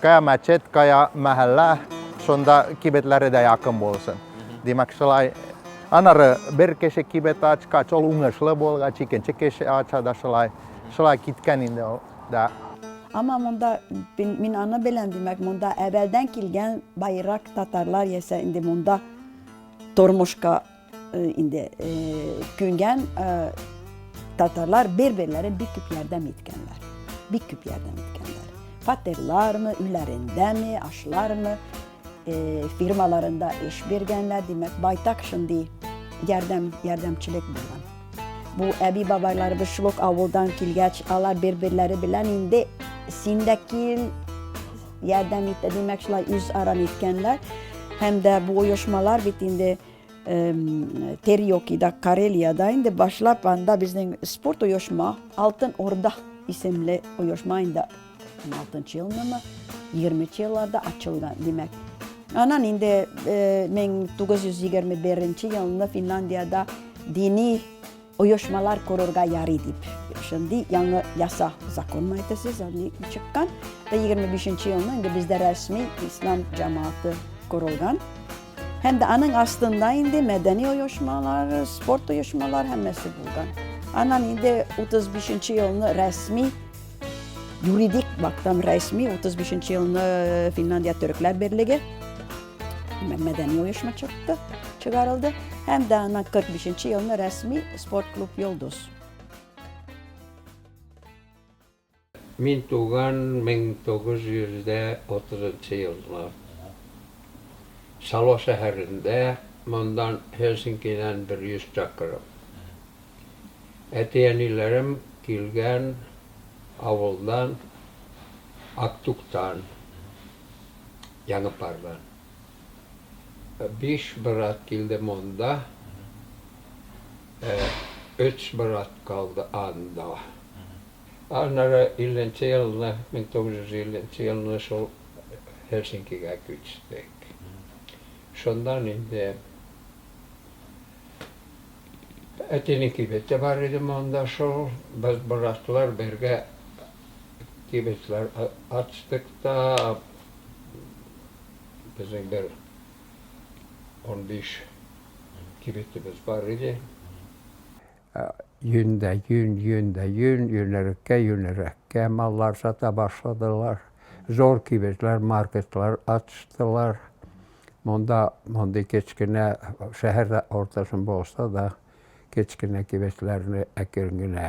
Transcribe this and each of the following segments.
Кая мәчет, кая мәхәллә, шунда кибетләре дә якын булсын. Димәк, шулай анары бер кеше кибет ачкач, ул уңышлы булгач, икенче кеше ача да шулай. Шулай киткән инде ул да. Ама монда мин аны беләм, димәк, монда әбәлдән килгән байрак татарлар ясә инде монда тормышка Инде күнгән татарлар бер-берләрен бик күп ярдәм иткәннәр. Бик күп ярдәм иткәннәр. Фатерлармы, өйләрендәме, ашлармы, фирмаларында эш биргәннәр, димәк, байтак шундый ярдәм, ярдәмчелек булган. Бу әби бабайларыбыз шул ук авылдан килгәч, алар бер-берләре белән инде син дә кил, ярдәм итә, димәк, шулай үз арам иткәннәр. Һәм дә бу оешмалар бит инде Терьокида, Карелиядә инде башлап анда безнең спорт оешма Алтын Орда исемле оешма инде 16 елмы, 20 елларда ачылган, димәк. Анан инде 1921 елны Финляндиядә дини Оешмалар корырга ярый дип, шундый яңы яса законны әйтәсез, аны чыккан. Ә 25 елны инде бездә рәсми ислам җәмәгате корылган. Һәм дә аның астында инде мәдәни оешмалар, спорт оешмалар һәммәсе булган. Аннан инде 35 елны рәсми юридик бактан рәсми 35 елны Финляндия төрекләр берлеге мәдәни оешма чыкты, чыгарылды. Һәм дә ана 45 елны рәсми спорт клуб Йолдыз. Мин туган 1930 елны. Сало шәһәрендә, мондан Хельсинкидән 100 чакрым. Әти-әниләрем килгән авылдан Актуктан. янып барды. Биш брат килде монда, өч брат калды анда. Аннары илленче елны, мең тугыз йөз илленче елны шул Һельсинкига күчтек. Шуннан инде әтинең кибете бар иде монда шул, без братлар бергә кибетләр ачтык та, безнең бер унбиш кибетебез бар иде. Йөн дә йөн, йөн дә йөн, йөнәреккә, йөнәрәккә маллар сата башладылар. Зур кибетләр, маркетлар ачтылар. Монда мондый кечкенә, шәһәр уртасын булса да, кечкенә кибетләрне әкрен генә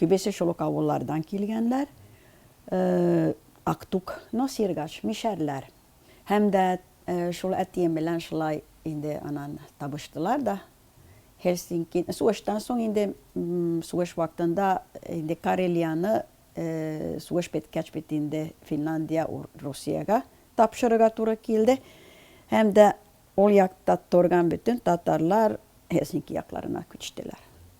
Күбесе шул ук авыллардан килгәннәр, Актук, Носиргач, Мишәрләр. Һәм дә шул әтием белән шулай инде анан табыштылар да. Һельсинки, сугыштан соң инде, сугыш вакытында инде Карелияны сугыш беткәч бит инде Финляндия Русиягә тапшырырга туры килде. Һәм дә ул якта торган бөтен татарлар Һельсинки якларына күчтеләр.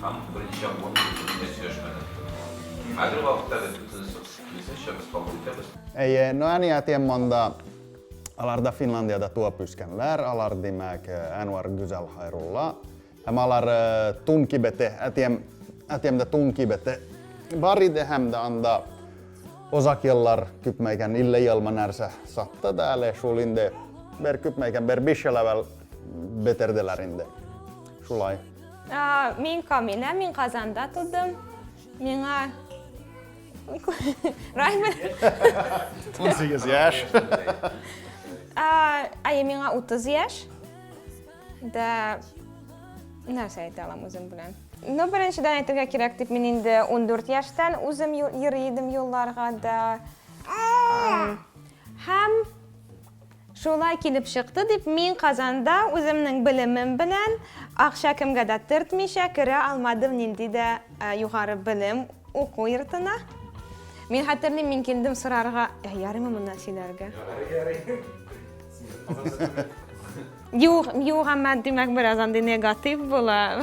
Һәм берничә урын бөтенләй сөйләшмәдек. Хәзерге вакытта без бөтенесе киресенчә без кабул итәбез. Әйе, но әни әтием монда. Алар да Финландиядә туып үскәннәр. Алар, димәк, Әнвәр, Гүзәл, Хайрулла. Һәм алар тун кибете, әтием, әтиемдә тун кибете бар иде һәм дә анда озак еллар күпмәгән 50 елмы нәрсә сатты да әле шул инде бер күпмәгән бер биш ел әвәл бетерделәр инде. Шулай. Мин Камина, мин Казанда тудым. Миңа Раймер. 18 яшь. Ай, миңа 30 яшь. Да нәрсә әйтә алам үзем белән? Ну, беренчедән әйтергә кирәк дип мин инде 14 яшьтән үзем йөри идем юлларга да. Һәм Шулай килеп чыкты дип, мин Казанда үземнең белемем белән, акча кемгә дә төртмичә, керә алмадым нинди дә югары белем уку йортына. Мин хәтерлим, мин килдем сорарга, ә ярыймы моннан сөйләргә? Юк, юк, әмма димәк бераз андый негатив була.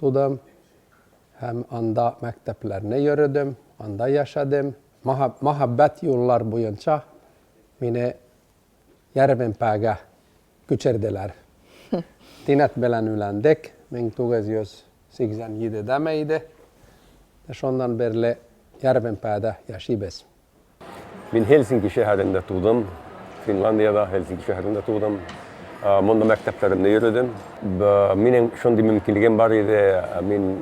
тудым һәм анда мәктәпләрне йөредем, анда яшәдем. Мәхәббәт юллар буенча мине Ярвенпәгә күчерделәр. Тинәт белән өйләндек, 1987 дәме иде. Шуннан бирле Ярвенпәдә яшибез. Мин Хельсинки шәһәрендә тудым. Финландиядә, Хельсинки шәһәрендә тудым. Монда мәктәпләремдә йөрдем. Минем шундый мөмкинлегем бар иде, мин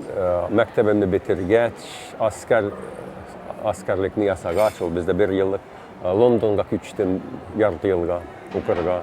мәктәбемне бетергәч, аскар, аскарлекне ясагач, ул бездә бер еллык, Лондонга күчтем ярты елга укырга.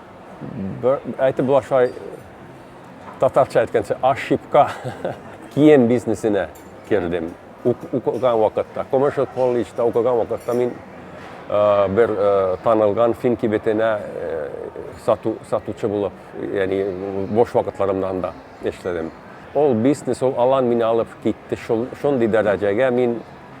әйтеп була шулай татарча әйткәнчә ошибка кием бизнесына кердем укыган вакытта коммершл колледжда укыган вакытта мин э, бер э, танылган фин кибетенә э, сату, сатучы булып яни бош вакытларымнан да эшләдем ол бизнес ол алан мине алып китте шундый дәрәҗәгә мин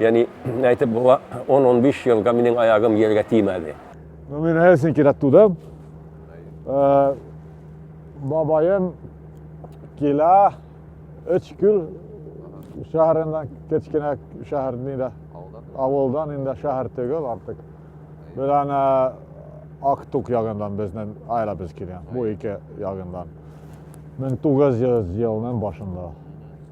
Яни әйтеп була, 10-15 елга минем аягым җиргә тимәде. Ну, мин әсен кирәк тудым. Э, бабаем килә өч күл шәһәреннән кечкенә шәһәр нидә авылдан инде шәһәр түгел артык белән э, актук ягыннан безнең аиләбез килгән бу ике ягыннан мең тугыз йөз елның башында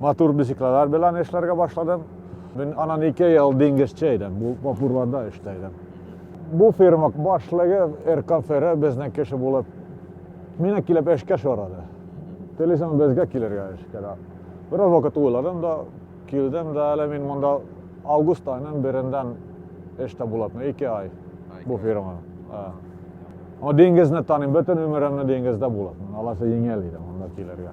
Матур бизикләләр белән эшләргә башладым. Мин анан ике ел диңгезче идем, бу вапурларда эштә идем. Бу фирма башлыгы Эркафере безнең кеше булып, мине килеп эшкә сорады. Телисең безгә килергә эшкә дә. Бераз вакыт уйладым да, килдем дә, әле мин монда август айының береннән эштә булам, ике ай бу фирма. Аңа диңгезне таныйм, бөтен гомеремне диңгездә булам. Аласы еңел иде монда килергә.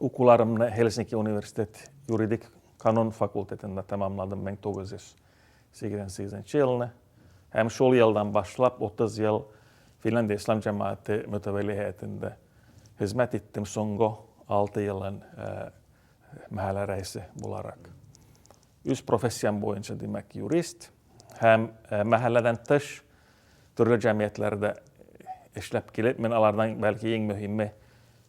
Укуларымны Хельсинки университет юридик канун факультетында тәмамладым 1988 елны. Һәм шул елдан башлап 30 ел Финляндия ислам җәмәгате мөтәвәли һәйәтендә хезмәт иттем соңгы 6 елын мәһәлә рәисе буларак. Үз профессиям буенча, димәк, юрист һәм мәһәлләдән тыш төрле җәмгыятьләрдә эшләп килеп, мин алардан бәлки иң мөһиме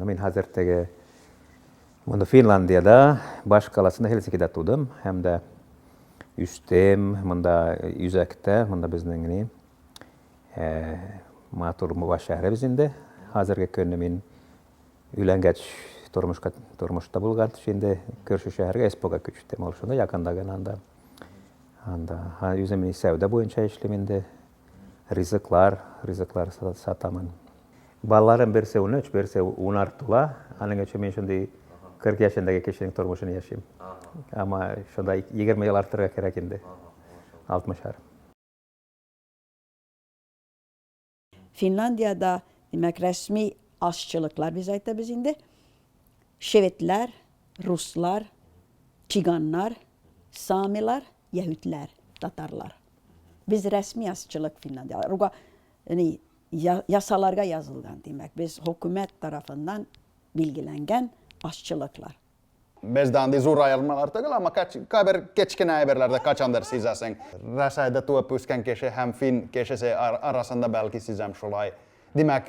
Мин хәзер теге моны Финландиядә, баш каласында Хельсинкида тудым һәм дә үстем. Монда үзәктә, монда безнең ни матур Муга шәһәребез инде. Хәзерге көнне мин өйләнгәч тормышка тормышта булган инде көршү шәһәргә эспога күчтем. Ул шунда якында гына анда. Анда үзем сәүдә буенча эшлим инде. Ризыклар, ризыклар сатамын. Балаларым берсе унөч, берсе унар тула. Аның өчен мин шундый кырык яшендәге кешенең тормышын яшим. Ама шунда егерме ел артырга кирәк инде. Алтмышар. Финляндиядә, димәк, рәсми ашчылыклар без әйтәбез инде. Шведлар, руслар, чиганнар, самилар, яһүдләр, татарлар. Без рәсми азчылык финансларга, яни ясаларга язылган, димәк, без хөкүмәт тарафыннан билгеләнгән азчылыклар. Бездә андый зур аермалар түгел, әмма кайбер кечкенә әйберләрдә кайчандыр сизәсең. Рәсәйдә туып үскән кеше һәм фин кешесе арасында бәлки сизәм шулай. Димәк,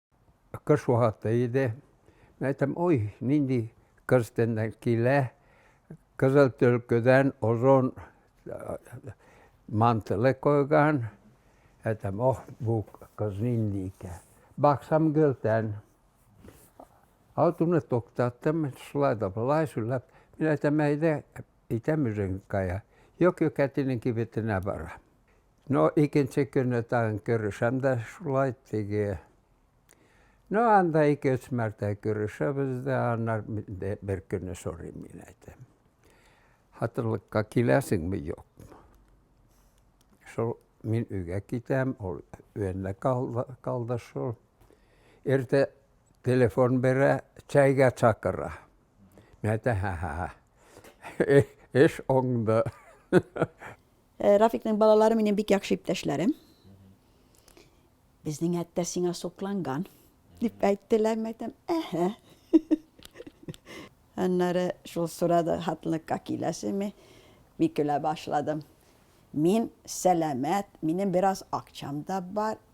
Кыш вакыты иде. Мин әйтәм, ой, нинди кыш тәннән килә. Кызыл төлкедән озон мантылы койган. Әйтәм, ох, бу кыз нинди икән. Баксам гөлтән. Алтуны туктаттым, шулай да болай сүләп. Мин әйтәм, әйдә, әйтәм үзең кая. Юк, юк, әтинең кибетенә барам. No ikinci könne tagen körüşäm dä şulay теге. No анда ике-өч мәртә көрәшәбез дә, аннар инде бер көнне сорыйм мин әйтәм. Хатынлыкка киләсеңме, юкмы? Шул мин өйгә китәм, ул өендә калды, калды шул. Иртә телефон бирә, чәйгә чакыра. Мин әйтәм, һә-һә-һә. Эш оңды. Рафикның балалары минем бик яхшы иптәшләрем. Безнең әттә сиңа сокланган, дип әйттеләр, мәйтәм, әһә. Аннары шул сорады, хатынлыкка киләсеңме? Мин көлә башладым. Мин сәламәт, минем бераз акчам да бар,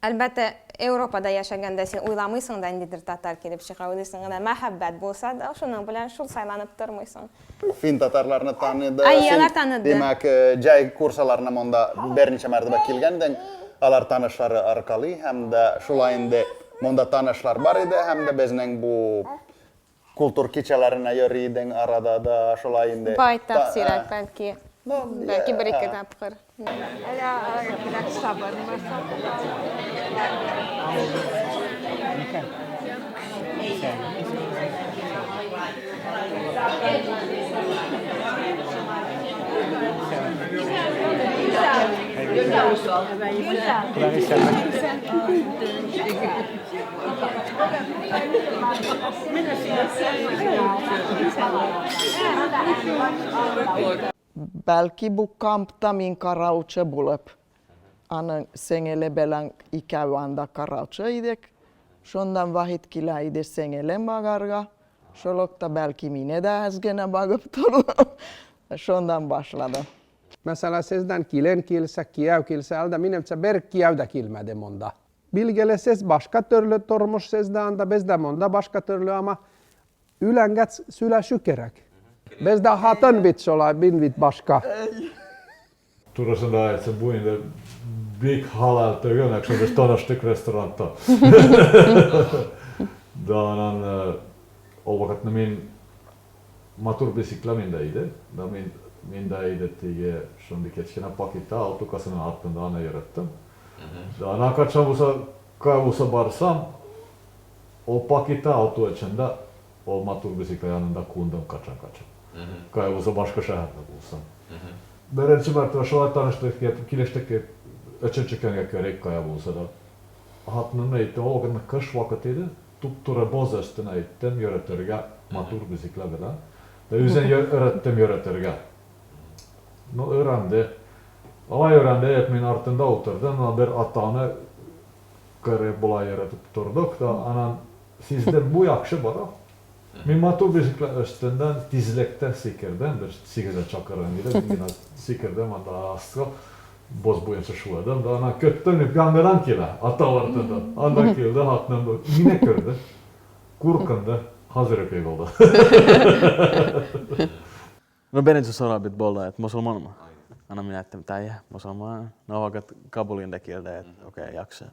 Әлбәттә, Европада яшәгәндә син уйламыйсың да, ниндидер татар килеп чыга, уйлыйсың гына, мәхәббәт булса да, шуның белән шул сайланып тормыйсың. Фин татарларны таныды, Әйе, син, алар таныды. димәк, җай курсаларына монда берничә мәртәбә килгәндең, алар танышлары аркалый һәм дә шулай инде монда танышлар бар иде һәм дә безнең бу Култур кичәләренә йөри идең арада да, шулай инде. Байтак сирәк, бәлки. Бәлки бер-ике тапкыр. Бәлки бу камп та мин караучы булып, аның сеңеле белән икәү анда караучы идек. Шуннан Вахит килә иде сеңелен багарга. Шул ук та бәлки мине дә әз генә багып торды. Шуннан башлады. Мәсәлән, сездән килен килсә, кияү килсә, әлдә минемчә бер кияү дә килмәде монда. Билгеле, сез башка төрле тормыш сездә анда, бездә монда башка төрле, ама өйләнгәц сөйләшү кирәк. Бездә хатын бит шулай, мин бит башка. Турысын да әйтсәм, бу инде бик халал түгел, әкшән без таныштык ресторанта. Да, анан ул вакытны мин Матур бесикла миндә иде. Да мин миндә иде теге шундый кечкенә пакетта алты касының артында аны йөреттем. Да ана качан булса ка булса барсам, ул пакетта алты очында ул матур бесикла янында кундым качан качан. Кая булса башка шәһәрдә булсам. Беренче мәртәбә шулай таныштык дип, килештек дип, өченче көнгә керик кая булса да. Хатынымны әйттем, ул вакыт кыш вакыты иде. Туп-туры база өстенә әйттем, йөретергә, матур бизикләр белән. Дә үзен йөретем йөретергә. Ну, өйрәнде. Алай өйрәнде, як мин артында утырдым, но бер атаны кырып, болай йөретеп тордык та, анан сиздем, бу яхшы бара. Мин матур бишекләр өстеннән тизлектә сикердем, бер сигезенче чакырым иде, мин генә сикердем, анда астка боз буенча шуладым да аннан көттем, дип, яңадан килә, атау артыннан. Анда килде, хатыным мине күрде, куркынды, хәзер үк егылды. Ну, беренче сорау бит булды, мосылманмы? Аннан мин әйттем, тәйе, мосылман, но вакыт кабул инде килде, окей, яхшы.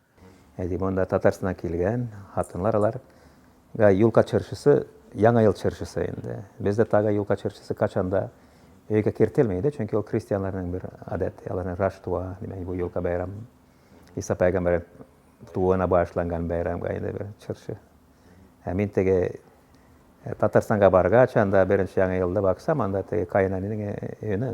Әйди, монда Татарстаннан килгән хатынлар алар. Га юлка чыршысы, яңа ел чыршысы инде. Бездә тага юлка чыршысы качанда өйгә кертелми иде, чөнки ул крестьяннарның бер гадәт, аларның Раштуа, димәк, бу юлка бәйрәм. Иса пәйгамбәр тууына багышланган бәйрәмгә инде бер чыршы. Ә мин теге э, Татарстанга баргач, анда беренче яңа елда баксам, анда теге каенәнинең өенә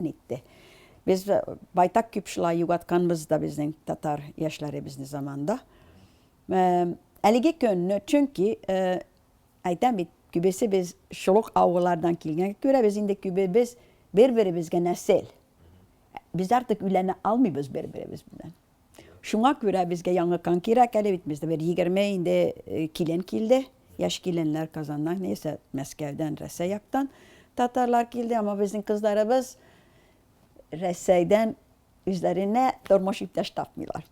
Нитте. Без байтак күп шулай югатканбыз да безнең татар яшьләребезне заманда. Әлеге көнне, чөнки әйтәм бит, күбесе без шул ук авыллардан килгәнгә күрә, без инде күбебез бер-беребезгә нәсел. Без артык өйләнә алмыйбыз бер-беребез белән. Шуңа күрә безгә яңы кан кирәк әле бит, бездә бер егерме инде килен килде, яшь киленнәр Казаннан, яисә Мәскәүдән, Рәсәй яктан татарлар килде, әмма безнең кызларыбыз Рәсәйдән үзләренә тормыш иптәш тапмыйлар.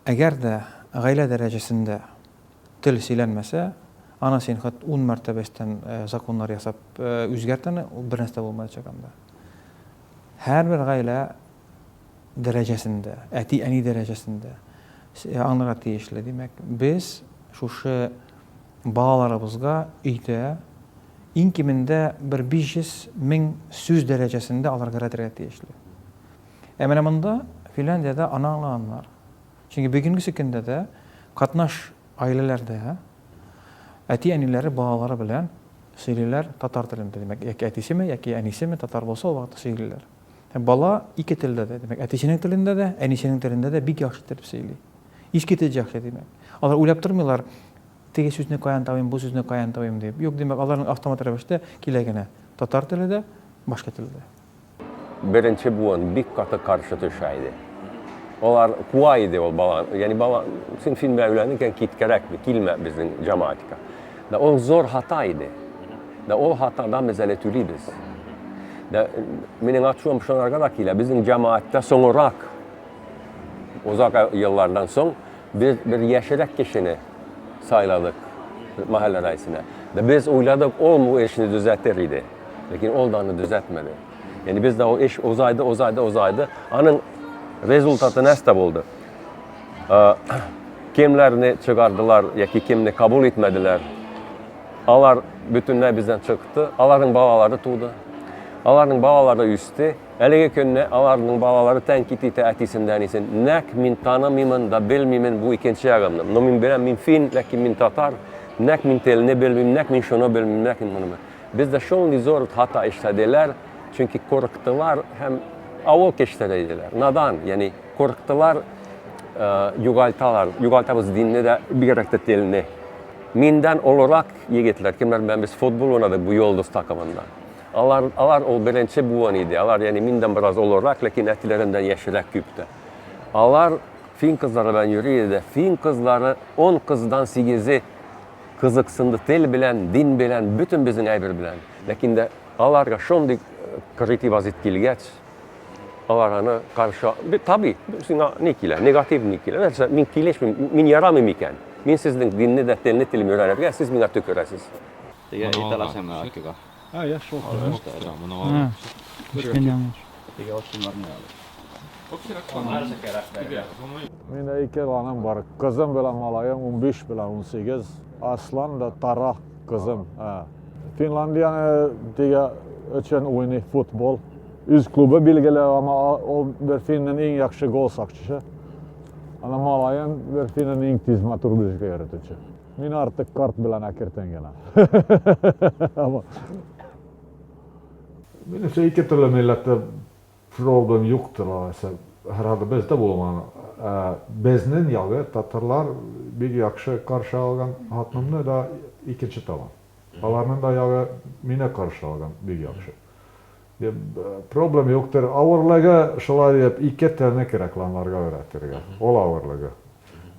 Әгәр дә гаилә дәрәҗәсендә тел сөйләнмәсә, аны син хат ун мәртәбә өстән законнар ясап үзгәрт аны, бернәрсә булмаячак анда. Һәрбер гаилә дәрәҗәсендә, әти-әни дәрәҗәсендә аңларга тиешле. Димәк, без шушы балаларыбызга өйдә иң кимендә бер 500 мең сүз дәрәҗәсендә алар гәрәтергә тиешле. Ә менә монда, Финляндиядә, аны аңлаганнар. Чөнки бүгенге көндә дә катнаш гаиләләрдә әти-әниләре балалары белән сөйлиләр татар телендә. Димәк, яки әтисеме, яки әнисеме татар булса, ул вакытта сөйлиләр. Бала ике телдә дә, димәк, әтисенең телендә дә, әнисенең телендә дә бик яхшы итеп сөйли. Иске тел яхшы, димәк. Алар уйлап тормыйлар, теге сүзне каян табыйм, бу сүзне каян табыйм дип. Юк, димәк, аларның автомат рәвештә килә генә. Татар теле дә, башка тел дә. Беренче буын бик каты каршы төшә иде. Алар куа иде ул баланы. Ягъни бала, син син белән өйләнергә киткәрәк, килмә безнең җәмәгатькә. Дә ул зур хата иде. Дә ул хатадан без әле түлибез. Дә минем ачуым шунарга да килә. Безнең җәмәгатьтә соңрак озак еллардан соң без бер яшерәк кешене сайладык мәхәллә рәисенә. Дә без уйладык, ул бу эшне төзәтер иде. Ләкин ул да аны төзәтмәде. Яни бездә ул эш озайды, озайды, озайды. Аның результаты нәрсә булды? кемнәрне чыгардылар яки кемне кабул итмәделәр. Алар бөтенләй бездән чыкты, аларның балалары туды. Аларның балалары үсте. Әлеге көнне аларның балалары тәнкит итә әтисен дә әнисен. Нәк мин танымыймын да белмимен бу икенче ягымны. Но мин беләм, мин фин, ләкин мин татар. Нәк мин телне белмим, нәк мин шуны белмим, нәк мин моны. Бездә шундый зур хата эшләделәр, чөнки курыктылар һәм авыл кешеләре иделәр. Надан, яни Курктылар, э, югалталар, югалтабыз динне дә, бигрәк тә телне. Миндән олырак егетләр, кемнәр белән без футбол уйнадык бу Йолдыз такымында. Алар, алар ул беренче буын иде. Алар, яни миндән бераз олырак, ләкин әтиләреннән яшьрәк күп тә. Алар фин кызлары белән йөри иде. Фин кызлары 10 кыздан 8-е кызыксынды тел белән, дин белән, бөтен безнең әйбер белән. Ләкин дә аларга шундый э, критибазит килгәч, Алар аны каршы бит таби, сиңа ни килә, негатив ни килә? Нәрсә, мин килешмим, мин ярамыйм икән. Мин сезнең динне дә, телне телим өйрәнергә, сез миңа төкерәсез. Теге әйт ала син менә Акига. А, я шул. Теге очынларны ал. Мин ике балам бар. Кызым белән малаем, унбиш белән унсигез. Аслан да Тара кызым. Финландияне диге өчен уйный футбол. Үз клубы билгеле, ама ул бер финнен иң яхшы гол сакчысы. Ана малаен бер финнен иң тиз матур бирҗгә йөртүче. Мин артык карт белән әкертен генә. Минемчә ике төрле милләттә Проблем юктыр алайса, һәрхәлдә бездә булмаган, ә безнен ягы татарлар бик якшы каршы алган, хатынымны да икенче табам, аларнын да ягы мине каршы алган бик якшы, дип, проблем юктыр, авырлыгы шулай дип ике телне кирәк ланларга өйрәтергә, ул авырлыгы,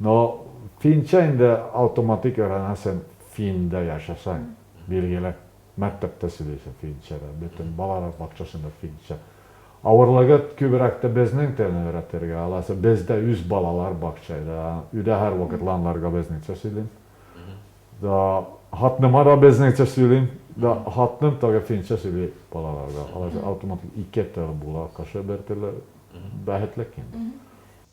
но финча инде аутоматик өйрәнәсен финдә яшәсәң, билгеле, Мәктәптә сөйләйсең финча да, бөтен балалар бакчасында финча. Авырлыгы күбрәк тә безнең телне өйрәтергә, алайса бездә үз балалар бакчада, өйдә һәрвакыт ланларга безнеңчә сөйлим. Да хатныма да безнеңчә сөйлим. Да хатным тагы финча сөйли балаларга. Алайса автоматик ике тел була, кеше бертөрле бәхетлек инде.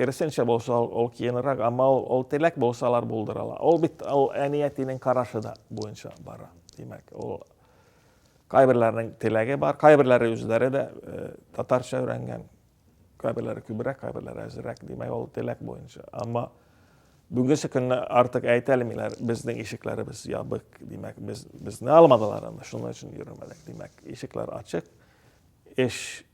Керсенчә булса, ул киенрак, әмма ул, ул теләк булса, алар булдыралар. Ул бит ул әниятинең карашы да буенча бара. Димәк, ул кайберләрнең теләге бар, кайберләре үзләре дә э, татарча өйрәнгән, кайберләре күбрәк, кайберләре әзрәк, димәк, ул теләк буенча. Әмма бүгенге көнне артык әйтә алмыйлар, безнең ишекләребез ябык, димәк, без безне алмадылар, шуның өчен йөрмәдек, димәк, ишекләр ачык. Эш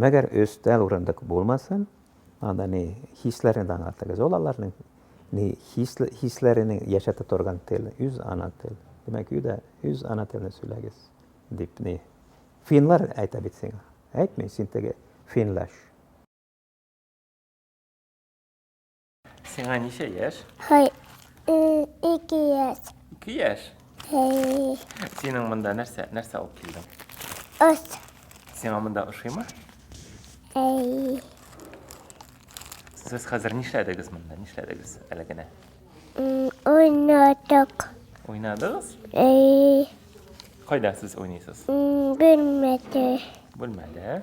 Мәгәр өстәл урындык булмасын, анда ни хисләрне дә аңлатыгыз. Ул аларның ни хисле хисләренең яшәтә торган тел, үз ана тел. Димәк, өйдә үз ана телен сөйләгез, дип ни. Финлар әйтә бит сиңа. Әйтми, син теге финлаш. Сиңа ничә яшь? Хай, ике яшь. Ике яшь? Хай. Синең монда нәрсә, нәрсә алып килдең? Ос. Сиңа монда ошыймы? Хай. Сез хәзер нишләдегез монда? Нишләдегез әле генә? Уйнадык. Уйнадыгыз? Хай. Кайда сез уйныйсыз? Бүлмәдә. Бүлмәдә.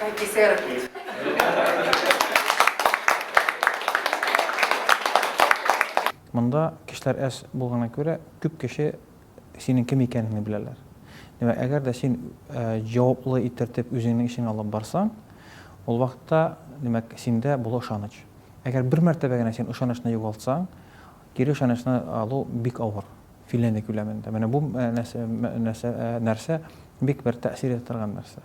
Антисерпит. Монда кешеләр әз булгана күрә, күп кеше синең кем икәнеңне беләләр. Димәк, әгәр дә син җаваплы итертеп үзеңнең эшеңне алып барсаң, ул вакытта, димәк, синдә була ышаныч. Әгәр бер мәртәбә генә син ышанычны югалтсаң, кире ышанычны алу бик авыр, Финляндия күләмендә. Менә бу нәрсә бик бер тәэсир итә торган нәрсә.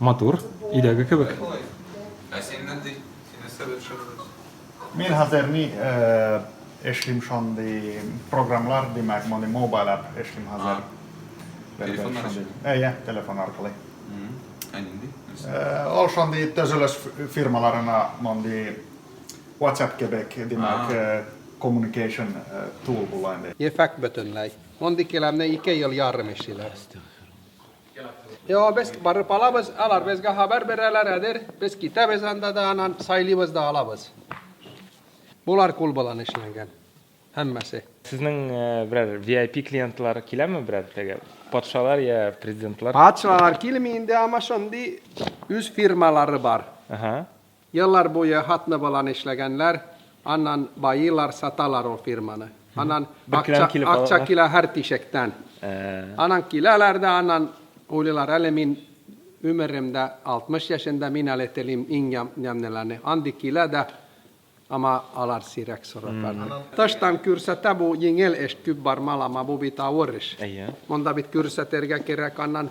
Матур, өйдәге кебек. Ә син нинди? Син нәрсәдә төшендегез? Мин хәзер ни эшлим шундый программалар, димәк, мондый мобайл апп эшлим хәзер. Телефоннар өчен? Әйе, телефон аркылы. Ә нинди? Ул шундый төзелеш фирмаларына мондый WhatsApp кебек, димәк, communication tool була инде. Ефәк бөтенләй. Мондый келәмне ике ел ярым эшлиләр. Йо, без барып алабыз, алар безгә хәбәр бирәләр, әдер, без китәбез анда да, анан сайлыйбыз да алабыз. Болар кул белән эшләнгән, һәммәсе. Сезнең берәр VIP клиентлар киләме берәр теге патшалар я президентлар? Патшалар килми инде, ама шундый үз фирмалары бар. Ага. Еллар буе хатны-баланы эшләгәннәр, аннан баиилар, саталар ул фирманы. Аннан акча, акча килә һәр тишектән. Аннан киләләр дә, аннан уйлыйлар, әле мин өмерем дә 60 яшендә, мин әле телим иң ямь, ямьнеләрне. Андый килә дә, ама алар сирәк сораклар. Тыштан күрсәтә бу еңел эш, күп бармалама, бу бит авыр эш. Әйе. Монда бит күрсәтергә кирәк, аннан.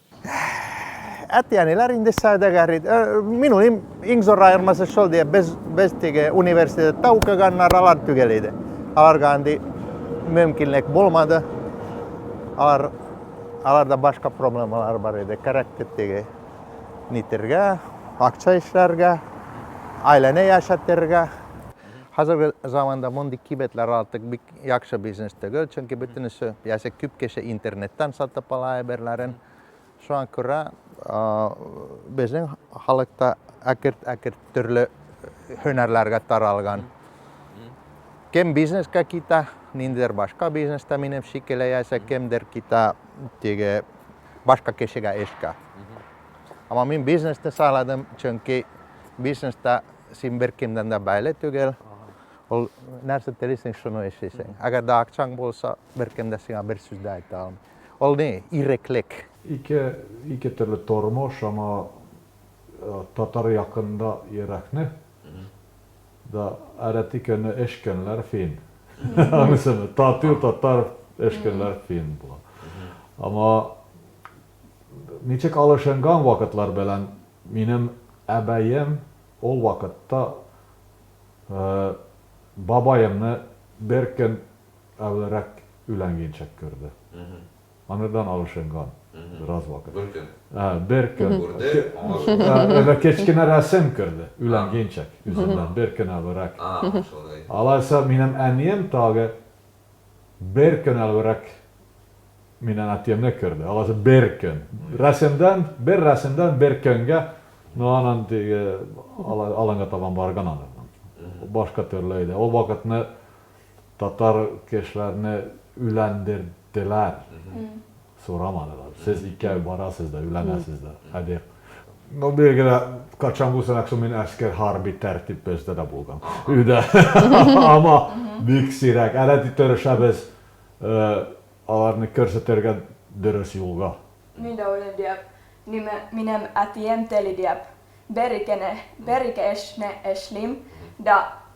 Әтиәниләр инде сәүдәгәр иде. Э, минул им иң зур аермасы шул ди, без без теге университетта укыганнар алар түгел иде. Аларга андый мөмкинлек булмады. Алар аларда башка проблемалар бар иде. Кәрәк теге нитергә, акча эшләргә, айләне яшәтергә. Хәзерге заманда мондый кибетләр артык бик яхшы бизнес түгел, чөнки бөтенесе ясә күп кеше интернеттан сатып ала әйберләрен. Шуңа күрә безнең халыкта әкерт-әкерт төрле һөнәрләргә таралган. Кем бизнеска китә, ниндидер башка бизнеста минем шикелле ясә кемдер китә теге башка кешегә эшкә. Ама мин бизнесны сайладым, чөнки бизнеста син бер кемдән дә бәйле түгел. Ул нәрсә телисең, шуны эшлисең. Әгәр дә акчаң булса, беркем дә сиңа бер сүз дә әйтә алмый. Ул ни? Иреклек. Ике, ике төрле тормыш, аңа татар якында йөрәкне да әрәти көне эш көнләр фин. Аңлыйсыңмы? Тату татар эш көнләр фин була. Аңа ничек алышынган вакытлар белән минем әбәем ул вакытта Бабаемны бер көн әвелрәк өйләнгенчәк күрде. Анырдан алышынган бераз вакыт. Бер көн. Бер көн. Күрде, аңа шулай. Әле кечкенә рәсем күрде, өйләнгенчәк, үзеннән бер көн әвелрәк. Шулай. Алайса, минем әнием тагы Бер көн әлбирәк минен әтиемне күрде. Аласы бер көн. Рәсемдән, бер рәсемдән бер көнгә, ну анан теге аланга табан барган анан. Башка төрле иде. Ул вакытны татар кешеләрне өйләндерделәр. Сорамадылар. Сез икәү барасыз да, өйләнәсез да. Хәдик. Ну, билгеле, качан булсын, аксу мин әскер, хәрби тәртип бездә дә булган. Өйдә. Ама бик сирәк. Әле дә тырышабыз аларны күрсәтергә дөрес юлга. Мин дә уйлыйм, дип. Нимә, минем әтием тели, дип. Бер-ике, бер-ике эшне эшлим дә.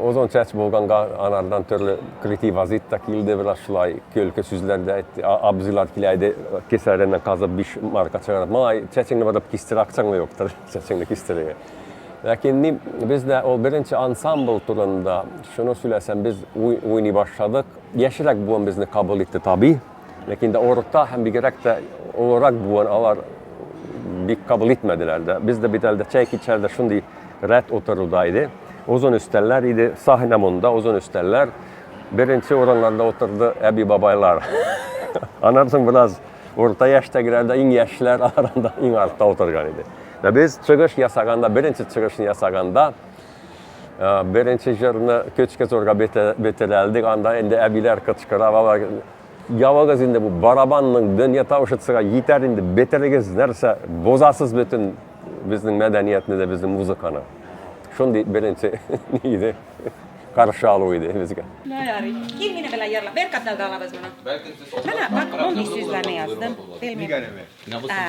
Озын чәч булганга анардан төрле кретивазит та килде, бераз шулай көлке сүзләр дә әйтте. Абзыйлар килә иде, кесәреннән казып биш марка чыгарып, малай, чәчеңне барып кистер, акчаңны юктыр, чәчеңне кистерергә. Ләкин ни, без дә ул беренче ансамбль турында шуны сөйләсәм, без уй, уйный башладык. Яшьрәк буын безне кабул итте, таби. Ләкин дә орта һәм бигрәк тә олырак буын алар бик кабул итмәделәр дә. Без дә бит әлдә чәй кичәрдә шундый рәт утыруда иде. Озын өстәлләр иде, сахна монда, озын өстәлләр. Беренче урыннарда утырды әби-бабайлар. Аннан соң бераз урта яшьтәгеләр дә, иң яшьләр арасында иң артта утырган иде. Без чыгыш ясаганда, беренче чыгышны ясаганда, Беренче җырны көчкә зурга бетерәлдек, анда инде әбиләр кычкыра, бала, явыгыз инде бу барабанның дөнья тавышы төсәгә җитәр инде, бетерегез, нәрсә, бозасыз бөтен безнең мәдәниятне дә, безнең музыканы. Шундый беренче иде, каршы алу иде безгә. Ну, ярый. Кил мине белән ярла. Бер катларда алабыз моны. Менә, бак, мондый сүзләрне яздым. Нигә әле? Ә.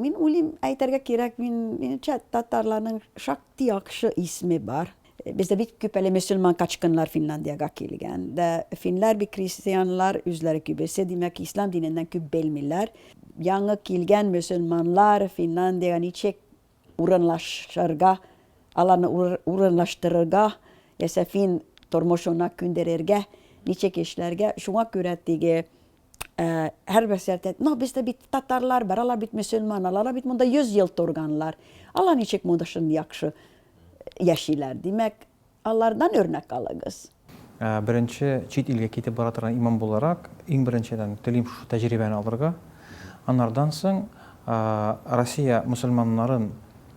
Мин уйлыйм, әйтергә кирәк, мин, минемчә, татарларның шактый яхшы исеме бар. Бездә бик күп әле мөселман качкыннар Финляндиягә килгән. Дә финнар бик крестьяннар, үзләре күбесе, димәк, ислам диненнән күп белмиләр. Яңа килгән мөселманнар Финляндиягә ничек урынлашырга, аларны урынлаштырырга, яисә фин тормышына күндерергә, ничек эшләргә, шуңа күрә теге һәр бәсәрдә но без дә бит татарлар бар алар бит мөселман алар бит монда йөз ел торганлар алар ничек монда шундый яхшы яшиләр димәк алардан өрнәк алыгыз беренче чит илгә китеп бара торган имам буларак иң беренчедән телим шушы тәҗрибәне алырга анардан соң россия мөселманнарын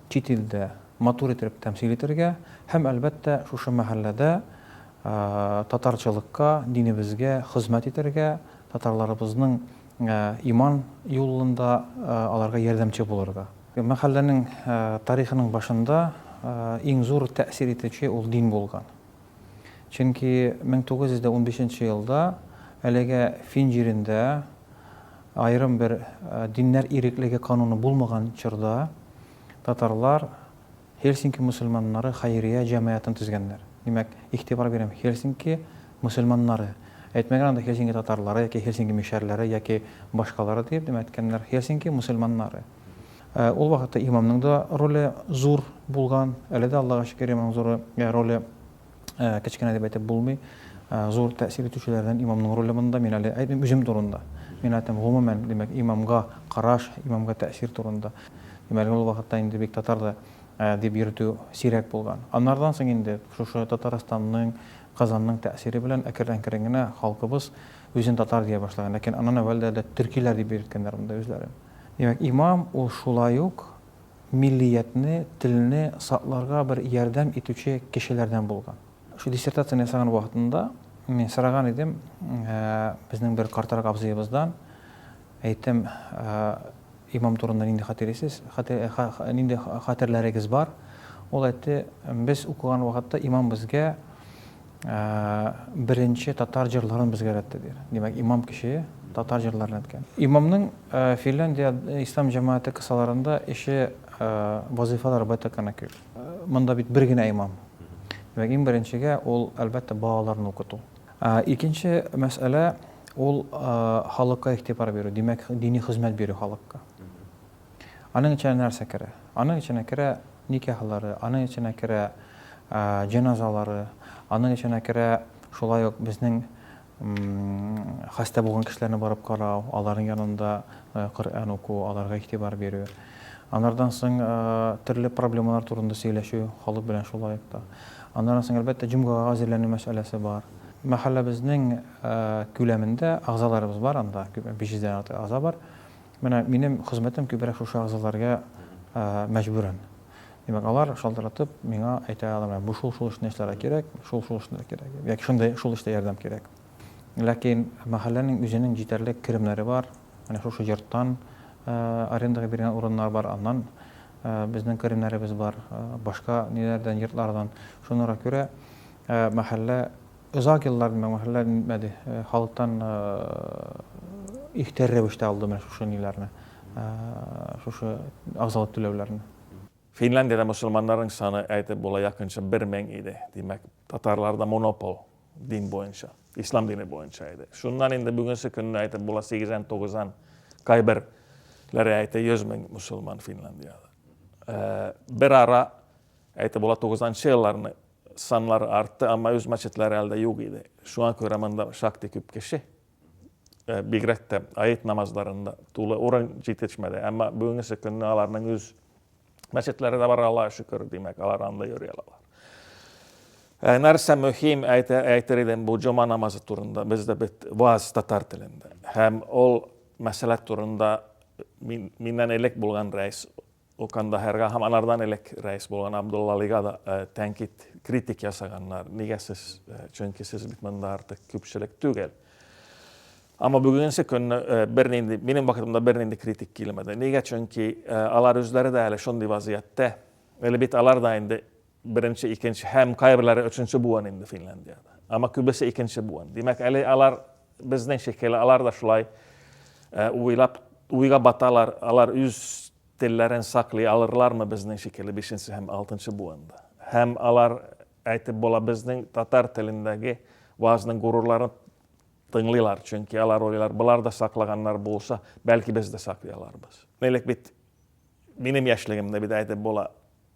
чит илдә матур итеп тәмсил итәргә һәм әлбәттә шушы мәхәлләдә Татарчылыкка, динебезгә хозмәт итәргә, татарларыбызның иман юлында аларга ярдәмче булырга. Мәхәлләнең тарихының башында иң зур тәэсир итүче ул дин булган. Чөнки 1915 елда әлегә Фин җирендә аерым бер диннәр иреклеге кануны булмаган чорда татарлар Һельсинки мөселманнары хәйрия җәмәгатен төзгәннәр. Димәк, игътибар бирәм, Һельсинки мөселманнары. Әйтмәгән анда Һельсинки татарлары яки Һельсинки мишәрләре яки башкалары диеп, димәк, әйткәннәр, Һельсинки мөселманнары. Ә ул вакытта имамның да роле зур булган, әле дә, Аллага шөкер, имамның зур роле. Кечкенә дип әйтеп булмый. Зур тәэсир итүчеләрдән имамның роле монда. Мин әле әйтмим үзем турында. Мин әйтәм, гомумән, димәк, имамга караш, имамга тәэсир турында. Димәк, ул вакытта инде бик татар да дип йөртү сирәк булган. Аннардан соң инде шушы Татарстанның, Казанның тәэсире белән әкрен-әкрен генә халкыбыз үзен татар дия башлаган. Ләкин аннан әүвәл дә төркиләр дип йөрткәннәр монда үзләрен. Димәк, имам ул шулай ук. миллиятне, телне сакларга бер ярдәм итүче кешеләрдән булган. Шул диссертацияне ясаган вакытында мин сораган идем безнең бер картарак абзыебыздан, әйттем, имам турында нинди хатирисез, нинди хатерләрегез бар? Ул әйтте, без укыган вакытта имам безгә Беренче татар җырларын безгә өйрәтте, ди. Димәк, имам кеше татар җырларын әйткән. Имамның Финляндия ислам җәмәгате кысаларында эше, вазыйфалары байтак кына күп. Монда бит бер генә имам. Димәк, иң беренчегә ул, әлбәттә, балаларны укыту. Икенче мәсьәлә, ул халыкка игътибар бирү, димәк, дини хезмәт бирү халыкка. Аның эченә нәрсә керә? Аның эченә керә никяхлары, аның эченә керә җеназалары, аның эченә керә шулай ук безнең хәстә булган кешеләрне барып карау, аларның янында э, Коръән уку, аларга игътибар бирү. Анардан соң э, төрле проблемалар турында сөйләшү халык белән шулай ук та. Аннан соң әлбәттә җомгага әзерләнү мәсьәләсе бар. Мәхәлләбезнең э, күләмендә агзаларыбыз бар анда, 500 дән артык агза бар. Менә минем хезмәтем күбрәк шушы әгъзаларга мәҗбүрен. Димәк, алар шалтыратып миңа әйтә алар, менә бу шул шул эшне эшләргә кирәк, шул шул эшне кирәк, яки шундый шул эштә ярдәм кирәк. Ләкин мәхәлләнең үзенең җитәрлек керемнәре бар. Менә шушы йорттан арендага биргән урыннар бар, аннан безнең керемнәребез бар, башка ниләрдән, йортлардан. Шуңа күрә мәхәллә Озак еллар менә мөһерләр нитмәде, халыктан ихтыяр рәвештә алды менә шушы ниләрне, шушы агъзалык түләүләрне. Финляндиядә мөселманнарның саны әйтеп була якынча бер мең иде. Димәк, татарларда монопол дин буенча, ислам дине буенча иде. Шуннан инде бүгенче көнне әйтеп була сигезән, тугызан, кайбер ләре әйтә йөз мең мөселман Финляндиядә. Бер ара әйтеп була тугызанчы елларны Санлары артты, әмма үз мәчетләре әле дә юк иде. Шуңа күрә монда шактый күп кеше, бигрәк тә аид намазларында тулы урын җитешмәде. Әмма бүгенге көнне аларның үз мәчетләре дә бар, Аллага шөкер, димәк, алар анда йөри алалар. Ә нәрсә мөһим әйтер идем бу җома намазы турында, бездә бит ваз татар телендә. Һәм ул мәсьәлә турында миннән элек булган рәис Ул Кандаһарга һәм анардан элек рәис булган Абдуллалига да тәнкыйть, критик ясаганнар. Нигә сез, чөнки сез бит монда артык күпчелек түгел. Әмма бүгенге көнне бернинди, минем вакытымда бернинди критик килмәде. Нигә, чөнки алар үзләре дә әле шундый вазыятьтә. Әле бит алар да инде Беренче, икенче һәм кайберләре өченче буын инде Финляндиядә. Әмма күбесе икенче буын. Димәк, әле алар безнең шикелле, алар да шулай э, уйлап, уйга баталар, алар үз телләрен саклый алырлармы безнең шикелле бишенче һәм алтынчы буында. Һәм алар әйтеп була безнең татар телендәге вазның горурларын тыңлыйлар, чөнки алар уйлар, болар да саклаганнар булса, бәлки без дә саклый аларбыз. Элек бит минем яшьлегемдә бит әйтеп була,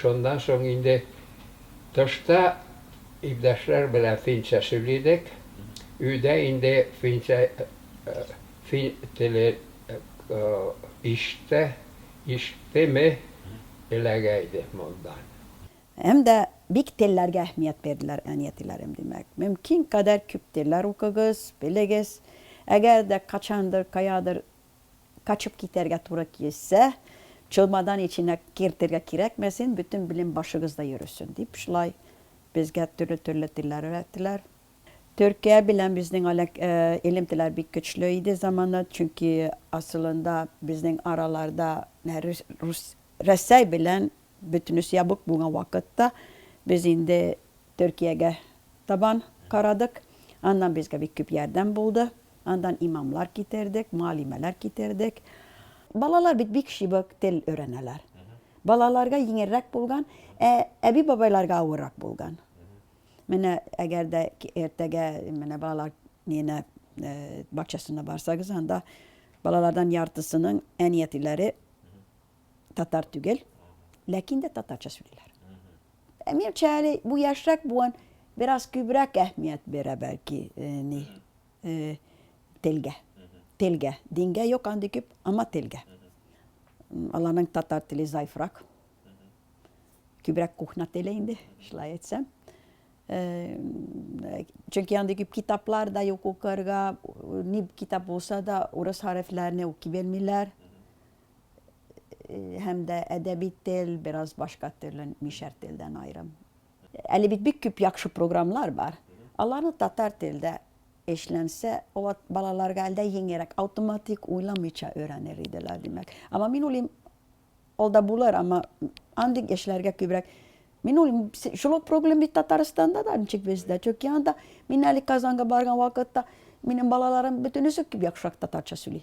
Шуннан соң инде тышта илдәшләр белән финча сөйли идек. Өйдә инде финча фин теле иште ишеттеме эләгә иде мондан. Һәм дә бик телләргә әһмият бирделәр әни-әтиләрем, димәк. Мөмкин кадәр күп телләр укыгыз, белегез. Әгәр дә качандыр, каядыр Качып китәргә туры килсә, чолмадан эченә кертергә кирәкмәсен, бөтен белем башыгызда йөресен, дип шулай безгә төрле-төрле телләр өйрәттеләр. Төркия белән безнең алек, элемтәләр бик көчле иде замана, чөнки асылында безнең араларда рус, Рәсәй белән Бөтенесе ябык булган вакытта без инде Төркиягә табан карадык. Аннан безгә бик күп ярдәм булды. Аннан имамлар китердек, мөгаллимәләр китердек. Балалар бит бик чыбык, тел өйрәнәләр. Балаларга йиңелрәк булган, ә әби-бабайларга авыррак булган. Менә әгәр дә иртәгә менә балалар ненә бакчасына барсагыз, анда балалардан яртысының әни-әтиләре татар түгел, ләкин дә татарча сөйлиләр. Ә минемчә әле бу яшьрәк буын бераз күбрәк әһмият бирә бәлки э, ни э, телгә. Телгә. Дингә юк андый күп, ама телгә. Аларның татар теле зайфрак. Күбрәк кухня теле инде, шулай әйтсәм. Э, чөнки андый күп китаплар да юк укырга, ни китап булса да урыс хәрефләрне укып белмиләр. һәм дә әдәби тел бераз башка төрле, мишәр телдән аерым. Әле бит бик күп яхшы программлар бар. Аларны татар телдә эшләнсә, алар балаларга әлдә еңерәк, автоматик уйламыйча өйрәнер иделәр, димәк. Ама мин уйлыйм, ул да булыр, ама андый эшләргә күбрәк Мин уйлыйм, шул ук проблем бит Татарстанда да, ничек бездә. Чөнки анда мин әле Казанга барган вакытта минем балаларым бөтенесе күп яхшырак татарча сөйли.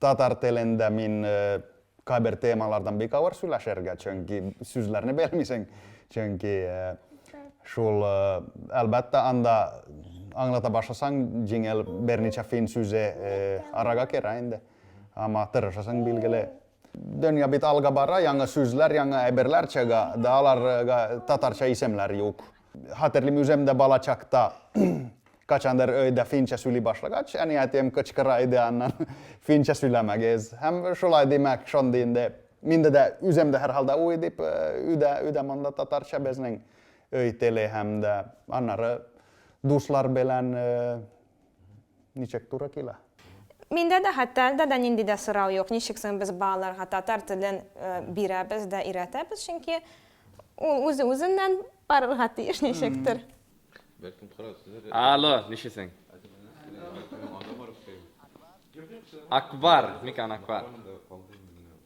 Татар телендә мин кайбер темалардан бик авыр сөйләшергә, чөнки сүзләрне белмисең, чөнки шул, әлбәттә, анда аңлата башласаң, җиңел берничә фин сүзе арага керә инде. Ама тырышасың, билгеле. Дөнья бит алга бара, яңа сүзләр, яңа әйберләр чыга, да аларга татарча исемләр юк. Хәтерлим үзем дә бала чакта качандыр өйдә финча сөйли башлагач, әниятем кычкыра иде аннан, финча сөйләмәгез. Һәм шулай димәк, шундый инде. Миндә дә үзем дә һәрхалда уй дип, өйдә, өйдә монда татарча безнең өй теле һәм дә аннары дуслар белән Ничек туры килә? Миндә дә хәтта әлдә дә нинди дә сорау юк, ничек соң без балаларга татар телен бирәбез дә, өйрәтәбез, чөнки ул үзе үзеннән барырга тиеш ничектер. Алло, ничесең? Акбар, микән Акбар?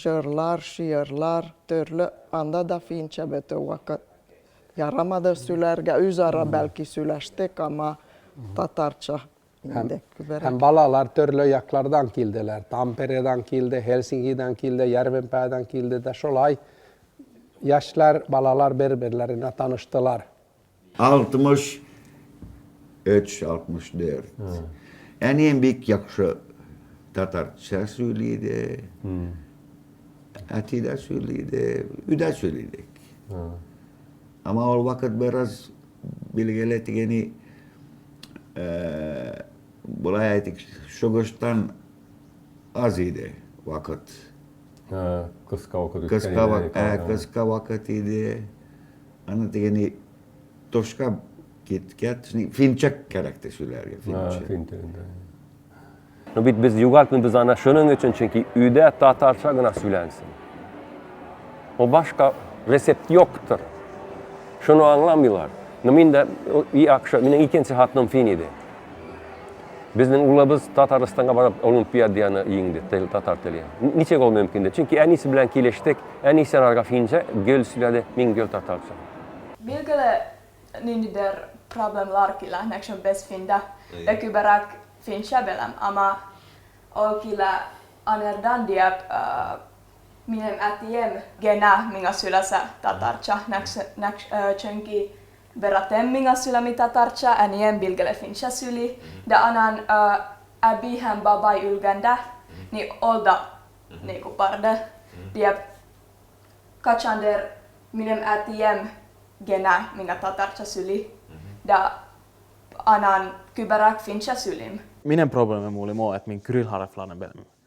Җырлар, шигырьләр, төрле, анда да финча бетү вакыт. Ярамады сөйләргә, үзара бәлки сөйләштек, ама татарча инде күберәк. Һәм балалар төрле яклардан килделәр. Тампередан килде, Хельсингидан килде, Ярвенпадан килде дә шулай яшьләр, балалар бер-берләренә таныштылар. 63, 64. Әнием бик яхшы татарча сөйли иде. Әти дә сөйли иде, өйдә сөйли идек. Ама ул вакыт бераз билгеле дигәни э, болай әйтик, шугыштан аз иде вакыт. Кыска вакыт. Кыска вакыт, ә, кыска вакыт иде. Аны тегене тошка киткә, финчак кәрәк те сүләргә, финчак. Ну бит без югалтмыйбыз аны шуның өчен, чөнки өйдә татарча гына сөйләнсен. Ул башка рецепт юктыр. Шуны аңламыйлар. Ну мин дә и акша, минем икенче хатыным фин иде. Безнең улыбыз Татарстанга барып Олимпиаданы иңде, тел, татар теле. Ничек ул мөмкин дип. Чөнки әнисе белән килештек, әнисе аларга финча гел сөйләде, мин гел татарча. Билгеле, ниндидер проблемалар килә, нәкъ шул без финда. Бер күбрәк финча беләм, әмма ул килә анердан диеп, минем әтием генә миңа сөйләсә татарча, нәкъ, нәкъ, чөнки. Бератем миңа сөйләми татарча, әнием билгеле финча сөйли, дә анан әби һәм бабай үлгәндә ни ол да ни купарды, диеп качандыр минем әтием генә миңа татарча сөйли, дә анан күберәк финча сөйлим. Минем проблемам ул мо әт мин кюрил харафларны белмим.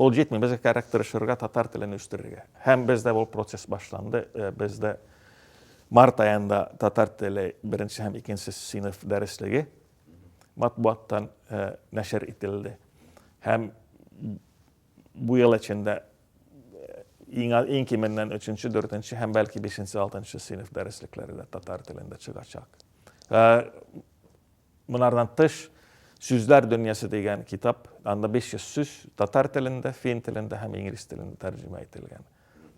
Ул җитми, безгә кәрәк тырышырга татар телен үстерергә. Һәм бездә ул процесс башланды. Э, бездә март аенда татар теле беренче һәм икенче сыйныф дәреслеге матбугаттан э, нәшер ителде. Һәм бу ел эчендә э, иң, иң кименнән өченче, дүртенче һәм бәлки бишенче, алтынчы сыйныф дәреслекләре дә татар телендә чыгачак. Монардан тыш, Сүзләр дөньясы дигән китап, анда 500 сүз татар телендә, фин телендә һәм инглиз телендә тәрҗемә ителгән.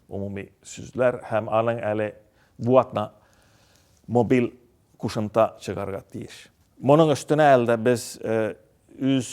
Умуми сүзләр һәм аның әле бу атна мобиль кушымта чыгарга тиеш. Моның өстенә әлдә без үз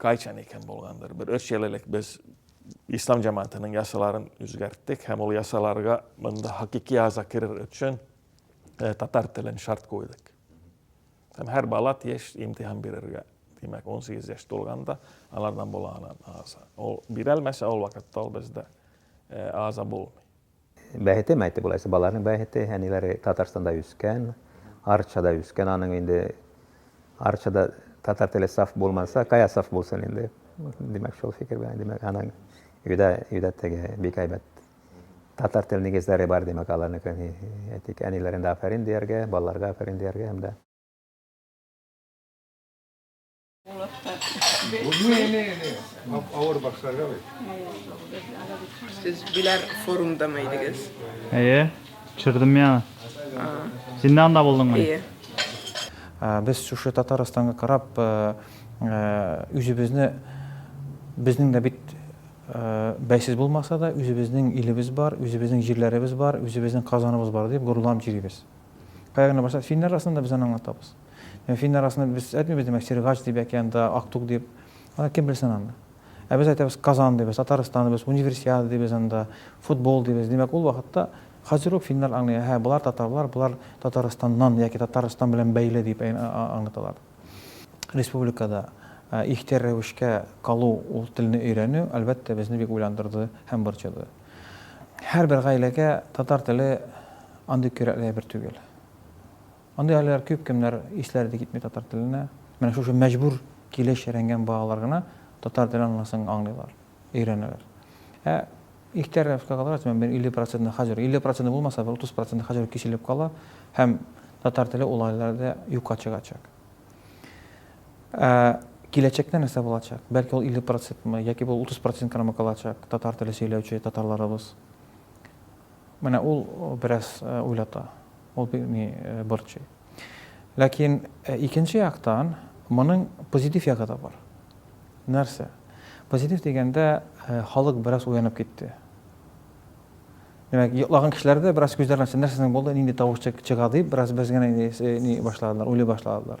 Кайчан икән булгандыр, бер өч ел элек без ислам җәмәгатенең ясаларын үзгәрттек һәм ул ясаларга монда хакыйкый аза керер өчен э, татар телен шарт куйдык. Һәм һәр бала тиеш имтихан бирергә. Димәк, 18 яшь тулганда алардан була анан аза. Ул бирәлмәсә, ул вакытта ул бездә э, аза булмый. Бәхете ме әйтте болайсы балаларның бәхете, әниләре Татарстанда үскән, Арчада үскән, аның инде Арчада татар теле саф булмаса, кая саф булсын инде. Димәк, шул фикер белән, димәк, аның өйдә, өйдә теге бик әйбәт татар тел нигезләре бар, димәк, аларныкы әйтик, әниләрендә афәрин дияргә, балаларга афәрин дияргә һәм дә Авыр башларга бит. Сез биләр форумда ма идегез? Әйе, төшердем я. Син дә анда булдыңмы? Әйе. Без шушы Татарстанга карап, үзебезне безнең дә бит бәйсез булмаса да, үзебезнең илебез бар, үзебезнең җирләребез бар, үзебезнең Казаныбыз бар дип горурланып йөрибез. Кая гына барсак, финнар арасында без аны аңлатабыз. Ә финнар арасында без әйтмибез, димәк, Сергач дип яки анда Актук дип. Аны кем белсен аны. Ә без әйтәбез Казан дибез, Татарстан дибез, Универсиада дибез анда, футбол дибез. Димәк, ул вакытта хәзер үк финнар аңлый, әһә, болар татарлар, болар Татарстаннан яки Татарстан белән бәйле дип аңлаталар. Республикада ихтер рәвешкә калу, ул телне өйрәнү, әлбәттә, безне бик уйландырды һәм борчыды. Һәрбер гаиләгә татар теле андый кирәкле әйбер түгел. Андый айлар күп, кемнәр исләре дә китми татар теленә. Менә шушы мәҗбүр килеш рәнгән балалар гына татар телен аннансың аңлыйлар, өйрәнәләр. Ә ихтияр рәвешкә калгач, мен 50 процентны хаҗер, 50 процентны булмаса, бер 30 процентны хаҗер киселеп кала, һәм татар теле ул айларда юкка чыгачак. Ә киләчәктә нәрсә булачак? Бәлки ул 50 процентмы, яки бу 30 процент крамы калачак, татар теле сөйләүче татарларыбыз. Менә ул бераз уйлата, ул бик ни борчый. Ләкин икенче яктан моның позитив ягы да бар. Нәрсә? Позитив дигәндә халык бераз уянып китте. Димәк, йоклаган кешеләр дә бераз күзләрен ачты, нәрсәнең булды, нинди тавыш чыга дип, бераз без генә ни башладылар, уйлый башладылар.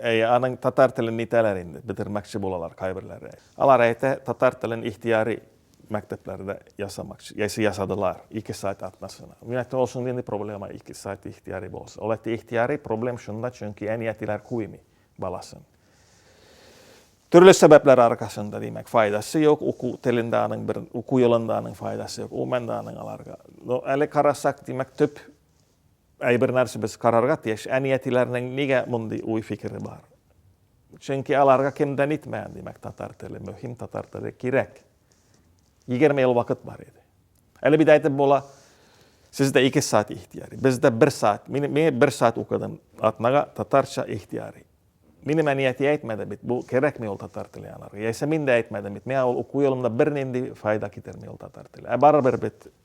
Әй, аның татар телен нитәләр инде, бетермәкче булалар кайберләре. Алар әйтә, татар телен ихтияри мәктәпләрдә ясамакчы, яисә ясадылар, ике сайт атнасына. Мин әйтә, ул шундый проблема, ике сайт ихтияри булса. Ул әйтә, ихтияри проблем шунда, чөнки әни-әтиләр куймый баласын. Төрле сәбәпләр аркасында, димәк, файдасы юк, уку телендә аның бер, уку елында аның файдасы юк, умәндә аның аларга. Но әле карасак, димәк, төп Әйбер нәрсә без карарга тиеш, әниятиләрнең нигә мондый уй фикере бар? Чөнки аларга кемдән итмә, димәк, татар теле мөһим, татар теле кирәк. Егерме ел вакыт бар иде. Әле бит әйтеп була, сездә ике саат ихтияри, бездә бер саат. Мин, мин бер саат укыдым, атнага татарча ихтияри. Минем әнияти әйтмәде бит, бу кирәкми ул татар теле аларга. Яисә мин дә әйтмәдем бит, миңа ул уку юлымда бернинди файда китерми ул татар теле. Ә барыбер бит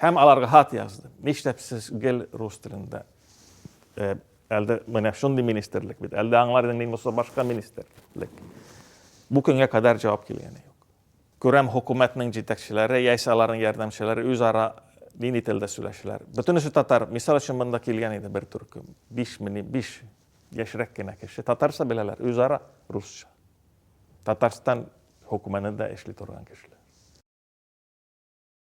Һәм аларга хат язды. Нишләп сез гел рус телендә? Э, әлде менә шундый министрлык бит. Әлде аңлар идең мин булса башка министрлык. Бу көнгә кадәр җавап килгәне юк. Күрәм, хөкүмәтнең җитәкчеләре, яисә аларның ярдәмчеләре үзара нинди телдә сөйләшәләр. Бөтенесе татар. Мисал өчен монда килгән иде бер төркем. 5 мени 5 яшьрәк кенә кеше. Татарча беләләр, үзара русча. Татарстан хөкүмәтендә эшли торган кешеләр.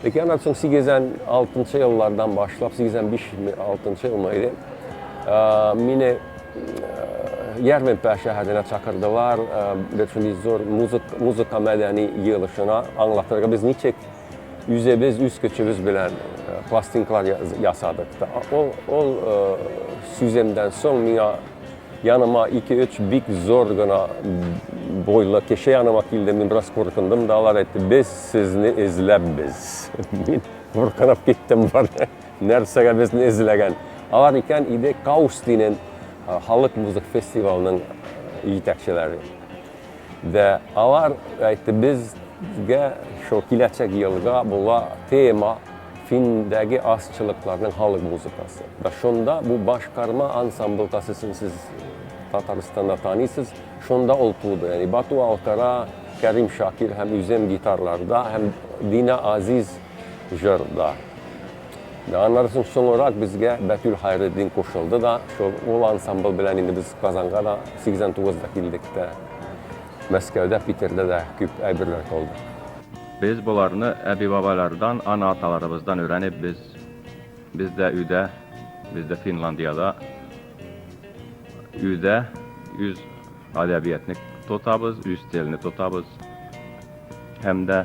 Ләкин аннан соң 86 еллардан башлап, 85-6 елмы иде, мине Ярминпә шәһәренә чакырдылар, бер шундый зур музыка мәдәни җыелышына аңлатырга без ничек үзебез үз көчебез белән пластинкалар ясадык. Ул сүземдән соң миңа Яныма ике-өч бик зур гына буйлы кеше яныма килде, мин бераз куркындым да, алар әйтте, без сезне эзләпбез. Мин куркынып киттем, бар, нәрсәгә безне эзләгән. Алар икән иде Каус дигән халык музык фестивалының җитәкчеләре. Дә алар әйтте, безгә шул киләчәк елга була тема Финдәге азчылыкларның халык музыкасы. Да шунда бу башкарма ансамбль тасысын сез Татарстанда таныйсыз, шунда ул туды. Яни Бату Алкара, Кәрим Шакир һәм үзем гитарларда һәм Дина Азиз җырда. Аннары соң соңрак безгә Бәтүл Хәйретдин кушылды да, шул ул ансамбль белән инде без Казанга да 89 да килдек тә, Мәскәүдә, Питерда да күп әйберләр кылдык. Без боларны әби-бабайлардан, ана-аталарыбыздан өйрәнеп без, без дә өйдә, без дә Финландиядә, өйдә үз әдәбиятны тотабыз, үз телне тотабыз һәм дә,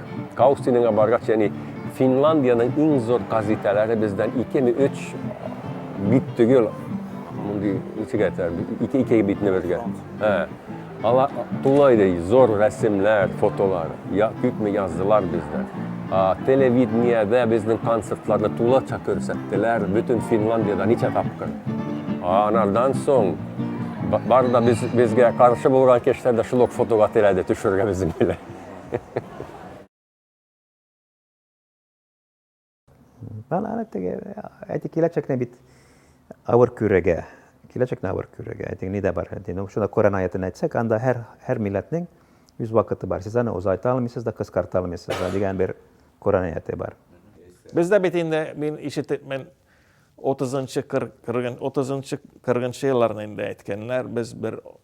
Каустинең Абаргач, ягъни Финландиянең иң зур газеталары бездән икеме өч бит түгел, мондый ничек әйтәр, ике ике битне бергә. Ә, ала тулай ди, зур рәсемләр, фотолар, я, күпме яздылар бездә. А, телевидениедә безнең концертларны тулача күрсәттеләр, бөтен Финландиядә ничә тапкыр. А, анардан соң, бар да без, безгә каршы булган кешеләр дә шул ук фотога теләде төшергә безнең белән. Бала аны теге әти киләчәкне бит авыр күрергә. Киләчәкне авыр күрергә. Әти ни дә бар. Әти ну шуны Коран аятын әйтсәк, анда һәр һәр милләтнең үз вакыты бар. Сез аны озайта алмыйсыз да, кыскарта алмыйсыз да дигән бер Коран аяты бар. Бездә бит инде мин ишетеп мен 30-нчы 40 30-нчы 40-нчы елларны инде әйткәннәр, без бер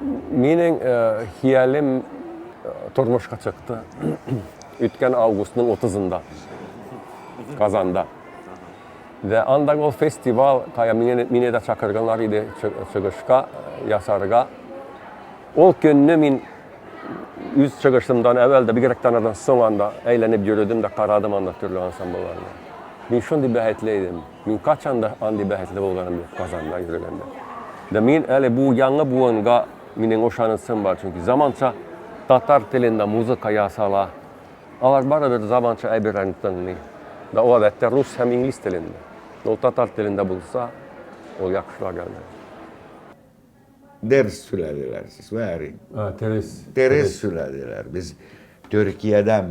Минең хиялем тормышка чыкты. Үткән августның 30-нда Казанда. Вә анда гол фестивал, кая мине дә чакырганнар иде чыгышка ясарга. Ул көнне мин үз чыгышымдан әвәл дә, бигрәк тә аннан соң анда әйләнеп йөрдем дә карадым анда төрле ансамбльләрне. Мин шундый бәхетле идем. Мин качан да андый бәхетле булганым юк Казанда йөргәндә. Да мин әле бу яңа буынга минем ошанысым бар, чөнки заманча татар телендә музыка ясала. Алар барыбер заманча әйберләрне тыңлый. Да ул әлбәттә рус һәм инглиз телендә. Ул татар телендә булса, ул яхшырак әле. Дерс сүләделәр сез, вәри. Терес. Терес сүләделәр. Без Төркиядән